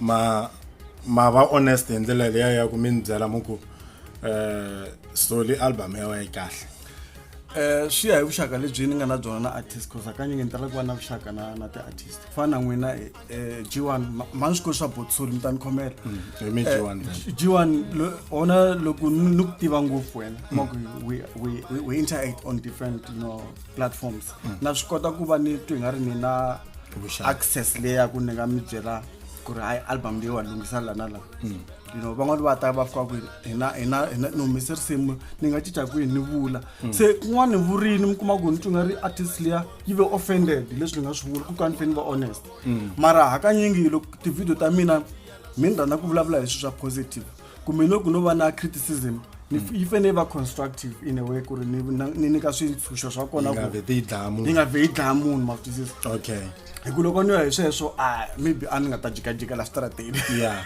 ma ma va honest hi ndlela leya ya ku mi ni byela mu ku um soli album ya wena yi kahle um swi ya hi vuxaka lebyi ni nga na byona na artist cause hakanye nge ni tala ku va na vuxaka na na ti-artist ku fana na n'wina um g one ma ni swi koti swa botsuri mi ta ni khomela mm, hi mi g one eh, g one ona loko ni ku tiva ngopfu wena kuma ku we interact on different you know platforms mm. na swi kota ku va ni twi nga ri ni na access leyaku ni nga mi byela ku ri hayi album leyi wa lunghisa la na la mm. you know van'wani va ta va fika ku hina hina hina ni humese risimu ni nga cinca kwihi ni vula mm. se kun'wana ni vurini mi kuma ku ni twi nga ri artist leya yi ve offended hi leswi ni nga swi vula ku ka ni fe ni va honest mara hakanyingi loko tivhidiyo ta mina mi ni rhandza ku vulavula hi swilo swa positive kumbe no ku no va na criticism ni f- yi fanele yi va constructive in a way ku ri ni na- ni nyika swintshunxo swa kona nga ku vhe ti yi dlaya yi munhu nga vhe yi dlaya munhu ma swi twisisa okay hi ku loko ni ya hi sweswo a maybe a ni nga ta jikajika la switarateni ya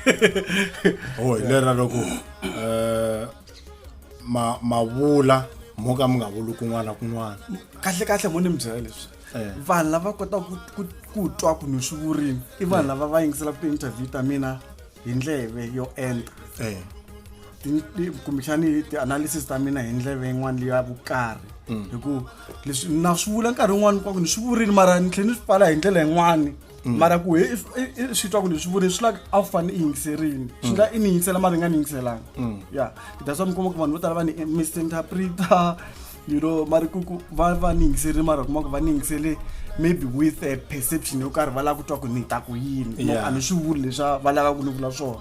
ho hi lera loko um ma mavula mo ka mi nga vuli kun'wana kun'wana kahle kahle mo ni mi byela leswi Eh. vanhu lava kotaka ku- ku- ku twa ku ni swi vurini i vanhu lava va yingiselaka ti-interview ta mina hi ndleve yo enta eh. kumbexani ti-analysis ta mina hi ndleve yin'wana leya vukarhi mm. hi ku leswi na swi vula nkarhi wun'wani kwaku ni swi vurile mara ni tlhela ni swi pfala hi ndlela yin'wani mm. mara ku swi twa ku ni swi vurile swi laka a fane i yingiserini swi mm. nga i ni yingisela mara i nga ni yingiselanga ya that's why mi kuma ku vanhu vo tala va ni misinterpreta you know mari ku va va ni yingisele mara kuma ku va ni yingisele maybe with a perception yo karhi va lava ku twa ku ni ta ku yini no a ni swi vuli leswa va lava ku ni vula swona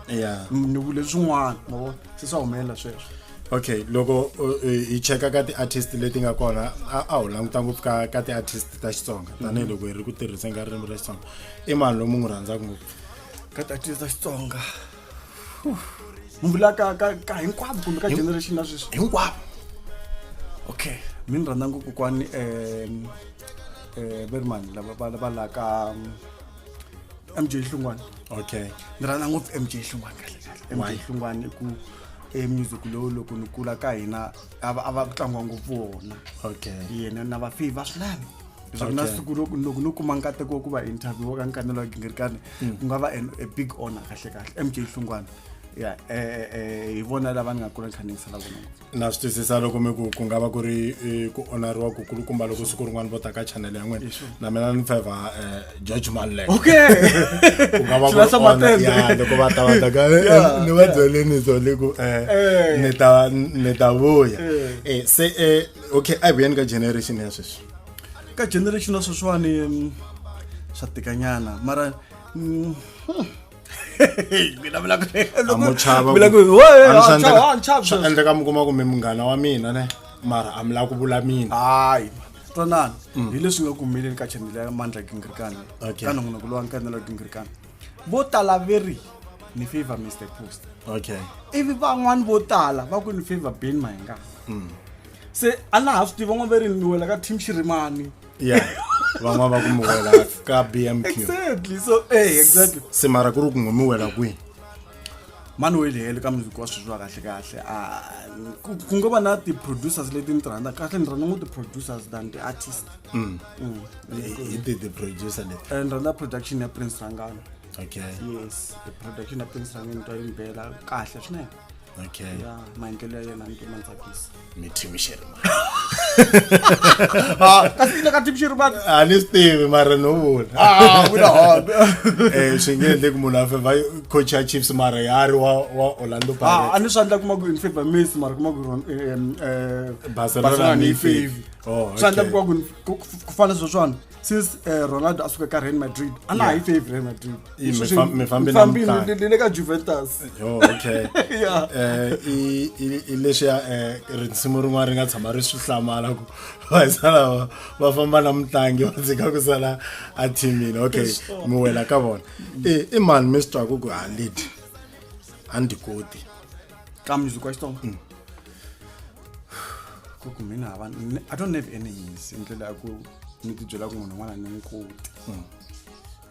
ni vule swin'wana mavo se swa humelela sweswo okay loko hi cheka ka ti-artist leti nga kona a wu languta ngopfu ka ka ti-artist ta xitsonga mhm. tanihiloko hi ri ku tirhiseni ka ririmi ra xitsonga i mani lomu n'wi rhandzaka ngopfu ka ti-artist ta xitsonga ni vula ka ka ka hinkwavo kumbe ka generation ya sweswi hinkwavo okay mi ni rhandza ngopfu kwani um um va ri mani lava va va la ka um, mj hlungwana okay ni rhandza ngopfu mj hlungwana kahle kahle mj Why? hlungwana i ku e music lowu loko ni kula ka hina a va a va ku tlangiwa ngopfu wona okay yena na vafihi va swinene leswaku na siku loko no kuma nkateko wa ku va interview wa ka nkanelo wa gingirikani hmm. ku nga va a big honor kahle kahle mj hlungwana ya eh, eh, eh, hi vona lava ni nga kula kha ni yingisela vona na swi twisisa loko mi ku ku nga va ku ri ku onariwa ku kulukumba loko siku rin'wana vo ta ka channel ya n'wina na mina ni feva um george manlek okay ku nga va ya loko va ta va ta ka ni va byeleni so le ku um ni ta ni ta vuya se um okay a vuyeni ka generation ya sweswi ka generation ya sweswiwani mm, swa tikanyana mara mm, hmm. mina vula ku- loko- Amo chava vula ku- ku- Wo, eh, Amo ah, swa endleka- chava, ah, chava swa sweswi. endleka mi kuma kumbe munghana wa mina ne mara a mi lava ku vula mina hayi twanani hi leswi nga ku humeleli ka chanele ya mandla gingirikani Mm. Okay. ka nongonoko lowa nkanela gingirikani vo tala ve ri ni favor mr post okay ivi van'wani vo tala va ku ni favor ben mahinga mm. se a na ha swi tiva n'wa ve ri ni wela ka team xirimani yeah van'wana va ku mi wela ka bmq exactly so eh exactly se mara ku ri ku n'wi mi wela kwihi mani wo yiliheli ka muziki wa sweswi wa kahle kahle ku ngo va na ti-producers leti ni ti rhandza kahle ni rhandza ngo ti-producers than ti-artist mm. Mm. He, he did the producer le and rona production ya prince rangano okay yes the production ya prince rangano into yimbela kahle swinene okay ya maendlelo ya yena nto mantsakisa ni team sherman ah kasi ile ka team sherman a ni stivi mara no vula ah vula hot eh swi nge endle ku munhu a feva coach ya chiefs mara ya ri wa wa orlando pirates ah a ni swi endla kuma ku in favor miss mara kuma ku eh, eh, eh, barcelona ni favor oh, swa endla vukoku ku fana sweswo swona since eh, ronaldo a suka ka real madrid a na ha yi favor real madrid mifambile ka juventus oh, okay eh, i lexiya eh, risimu rin'wana ri nga tshama ri swi hlamala ku vaisalawa va famba na mutlangi va dzika ku sala a thimile okay mi wela ka vona i mani mi swi twaku ku halidi a ndzi koti xa mntu kwesitoma hmm. kuku mina hava i don't have any yisi ndlela ya ku ni ti byela ku munhu un'wana ni n'wi koti hmm.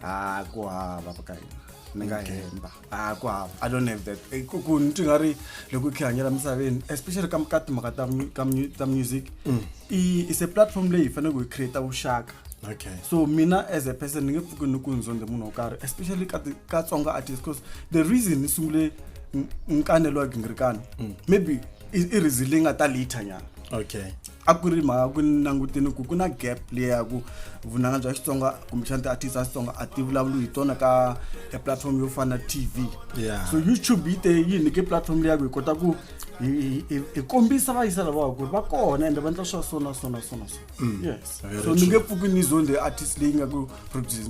a ku hava ka hina ni nga hemba a ku hava i don't have that eh, ku ku ni twi nga ri loko i khe hanyela misaveni especially ka ka timhaka ta ka ta music mm. i is a platform leyi hi faneleke hi create vuxaka okay so mina as a person ni nge pfuki ni ku nzondhe munhu wo karhi especially ka ka tsonga artist because the reason ni sungule M- mkane loyi gingirikana maybe i i reason leyi nga ta later nyana okay a ku ri mhaka ku ni langutini ku ku na gap leya ku vunanga bya xitsonga kumbexana ti-artist a xitsonga a ti vulavuli hi tona ka e platform yo fana na tv Yeah. so youtube yi te yi nyike platform leya ku hi kota ku hi- hi hi- hi kombisa vayisa lavawa ku ri va kona ende va endla swa so na so na so na so yes very so ni nge pfuki ni zonde artist leyi nga ku produce-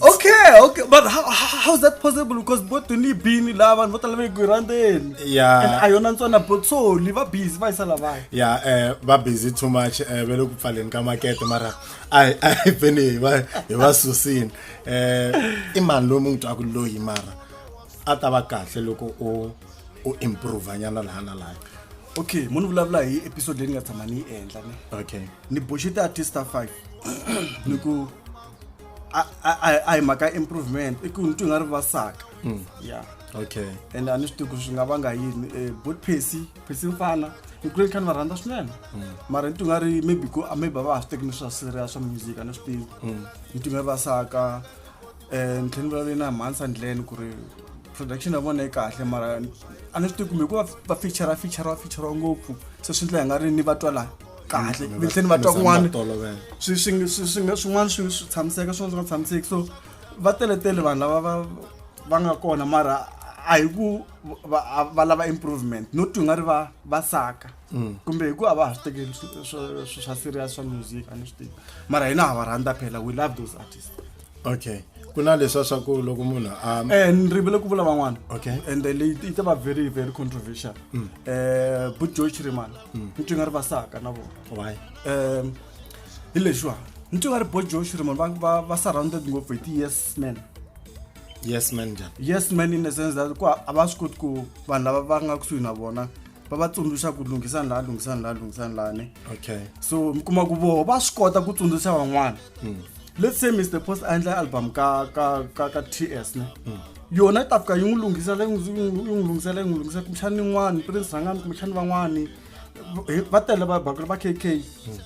okay okay but how, how, how's that possible because bo tony bini la vanhu vo tala va ku randeni yeah and a yona ntsona bo so li va busy va yisa lavaya yeah eh va busy too much eh ve le ku pfaleni ka makete mara ai ai beni hi va hi va susini eh i mani loyi mu n'wi twaku loyi mara a ta va kahle loko u u improve nyana laha na laha okay mo ni vulavula hi episode leyi ni nga tshama ni yi endla ni okay ni boxe ti-artist ta five ni ku a hi mhaka improvement i ku ni twi nga ri va saka mm. ya okay and a ni swi tivi ku swi nga vanga yini um eh, bot pesi pesi mfana ni kule ni kha ni va rhandza swinene mm. mara ni twi nga ri maybe ku a maybe a va ha swi teki ni swa siria swa music a ni swi tivi mm. ni twi nga ri va saka um ni tlhela ni vulavule na mhansa ndleni ku ri production ya vona yi kahle mara a ni swi tivi kumbe ku va feature feature feature ngopfu se swi ndlela hi nga ri ni va twalani kahle mi tlheni va twa kun'wana swin'wana swi tshamiseka swin'wana swi nga tshamiseki so va teletele vanhu lava va va nga kona mara a hi ku va lava improvement no twi nga ri va va saka mm. kumbe hi ku a va ha swi tekeli swa serious swa music a ni swi tivi mara hina ha va rhandza phela we love those artists okay ku na leswa swa ku loko munhu a eh ni rivele ku vula van'wana okay and leyi yi ta va very very controversial mm. eh but Joe Chiriman mm. ni nga ri vasaka na vona why eh hi leswa ni nga ri bo Joe Chiriman va va va surrounded ngopfu hi ti yes men yes man njhani yes man in the sense that ku a va swi koti ku vanhu lava va nga kusuhi na vona va va tsundzuxa ku lunghisani laha lunghisani laha lunghisani lani okay so mi kuma ku voho va swi kota ku tsundzuxa van'wana hmm. let's say mr post a endla album ka ka ka ka ts ne hmm. yona yi ta fika yi n'wi lunghisela yi n'wi lunghisela yi n'wi lunghisela kumbexani yin'wani prince rhangani kumbexani van'wani va tele va bakulu va kk hmm.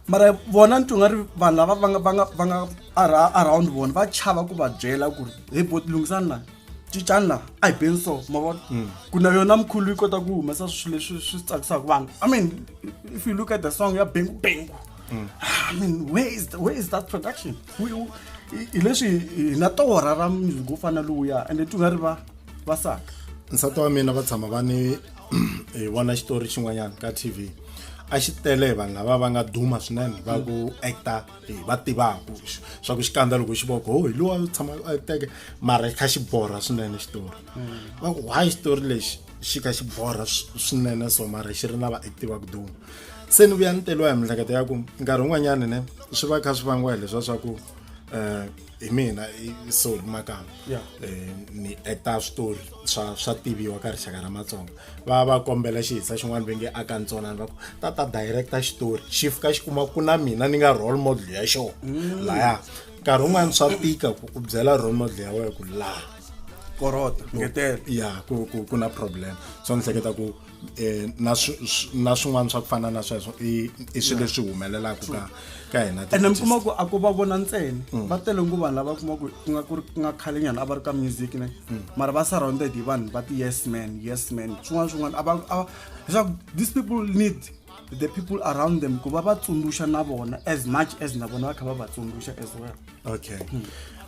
mara vona ni twinga ri vanhu lava va nga va nga va nga around vona va chava ku va byela ku ri hi boti lunghisani laha cicanla a hi beni so ma vona hmm. ku na yona mkhulu yi kota ku humesa swilo leswi swi tsakisaka vanhu i mean if you look at the song ya bengu bengu hmm. i mean where is, the, where is that production hi leswi hi na torha ra music wo fana lowuya ende ti nga ri va va saka nsati wa mina va tshama va ni hi vona xitori xin'wanyana ka tv a xi tele vanhu lava va nga duma swinene va ku actor va tivaka swa ku xikandza loko xi voko ho hi lowa tshama a teke mara xi kha xi borha swinene xitori mm. va ku why xitori lexi xi kha xi borha swinene so mara xi ri na vaacti va ku duma se ni vuya ni teriwa hi miehleketo ya ku nkarhi wun'wanyani ne swi va kha swi vangiwa hi leswa swa ku um hi mina so hi makama um eh, ni acta switori swa swa tiviwa ka rixaka ra matsonga va va kombela xihisa xin'wana va nge a ka ntsonani va ku tata director xitori xi fika xi kuma ku na mina ni nga role model ya xona mm. laya nkarhi wun'wana swa tika ku u byela role model ya wena ku laha korota ngetela ya ku ku ku na problem so ni hleketa ku eh na na swin'wana swa ku fana na sweswo i i swilo leswi humelelaka ka ka hina ti- ene mi kuma ku a ko va vona ntsena va tele ngo vanhu lava kuma ku ku nga ku ri ku nga khale nyana a va ri ka music ne mara va surrounded hi vanhu va ti yes man yes man swin'wana swin'wana a va a va- leswaku these people need the people around them ku va va tsundzuxa na vona as much as na vona va kha va va tsundzuxa as well okay um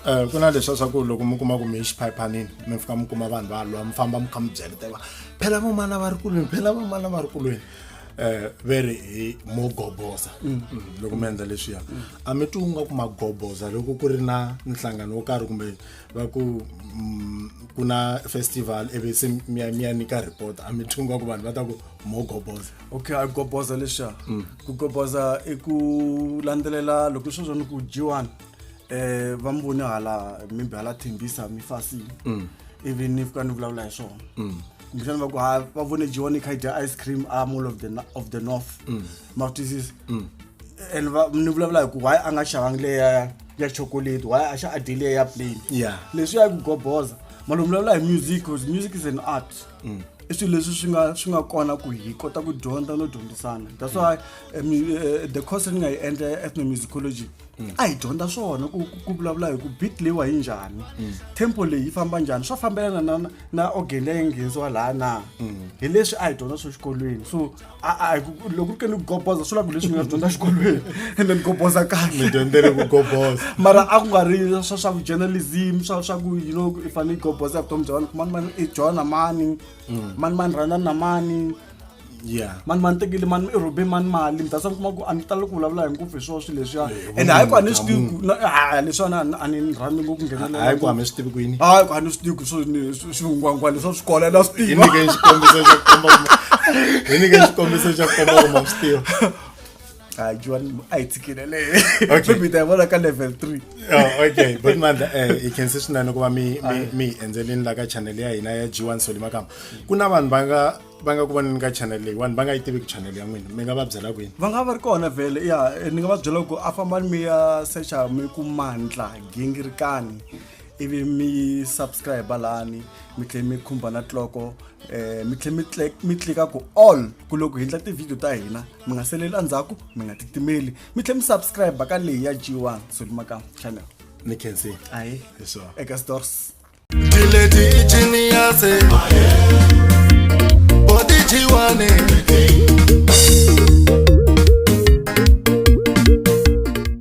eh, ku na leswa swa ku loko mi kuma ku mi xiphayiphanini mi fika mi kuma vanhu va lwa mi famba mi kha mi byeleteva phela vamana va ri kulweni phela vamana va ri kulweni um ve ri hi mo goboza mm. mm, loko mi endla leswiya mm. a mi twi u nga ku ma goboza loko ku ri na nhlangano wo karhi kumbe va ku ku na festival ivi se mi ya mi ya nyika report a mi twi u nga ku vanhu va ta ku mo goboza okay a goboza lexa mm. ku goboza i ku landzelela loko swo swa ni ku jiwani eh va mi vone hala mimbe hala thembisa mi fasile mm. ivi ni fika ni vulavula hi swona mm. kumbexana va ku ha va vone jiwani kha yi dya ice cream a mall of the, of the north ma ku twisisa and ni vulavula hi ku why a nga xavangi leya ya chocolate why a xa a dyi leya ya plain leswi ya ku goboza malomvulavula hi music bcause music is an art mm. i swilo leswi swi nga swi nga kona ku hi kota ku dyondza no dyondzisana that's why eh, eh, the course ni nga yi endla ya ethnomusicology mm. a hi dyondza swona ku ku vulavula hi ku beat leyiwa yi njhani mm. tempo leyi yi famba njhani swa fambelana na na organ leyi nghenisiwa laha na hi leswi a hi dyondza swo xikolweni so a-a loko ri ke ni ku goboza swi la ku leswi ni nga swi dyondza xikolweni and then goboza kahle dyondzele ku goboza mara a ku nga ri swa swa ku journalism swa swa ku you know i fanele i goboza vutomi bya wena ku mani mani i jona mani mani mani rhanda na mani yeah mani mani tekile mani i rhobe mani mali mi ta sa mi kuma ku a ni tali ku vulavula hi ngopfu hi swona swi leswiya Eh, and hayi ku a ni swi tivi ku na- a- a- leswiwani a ni- a ni rhandi ngopfu ku nghenelela hayi ku hame swi tivi ku yini hayi ku a ni swi tivi ku swo ni- swingwangwa leswi swi kola la swi tiva nyike xikombiso xa ku komba hi nyike xikombiso xa ku komba kuma swi tiva hayi juwani a hi tshikile leyi okay mi ta yi vona ka level 3 oh okay but mandla eh hi khense swinene ku va mi mi endzeleni la ka channel ya hina ya G1 Solima Kama ku na vanhu va nga va nga ku voneni ka channel leyi vanhu va nga yi tiviki channel ya n'wina mi nga va byela kwini va nga va ri kona vhele ya ni nga va byela ku a fambani mi ya secha mi ku mandla gingirikani ivi mi subscribe lani mi tlhela mi khumba na tloko eh mi tlhela mi mi tlika ku all ku loko hi ndla ti-video ta hina mi nga seleli endzhaku mi nga titimeli mi tlhela mi subscribe ka leyi ya g1 solimaka channel ni khensi ayi eka stores dileti genius body g1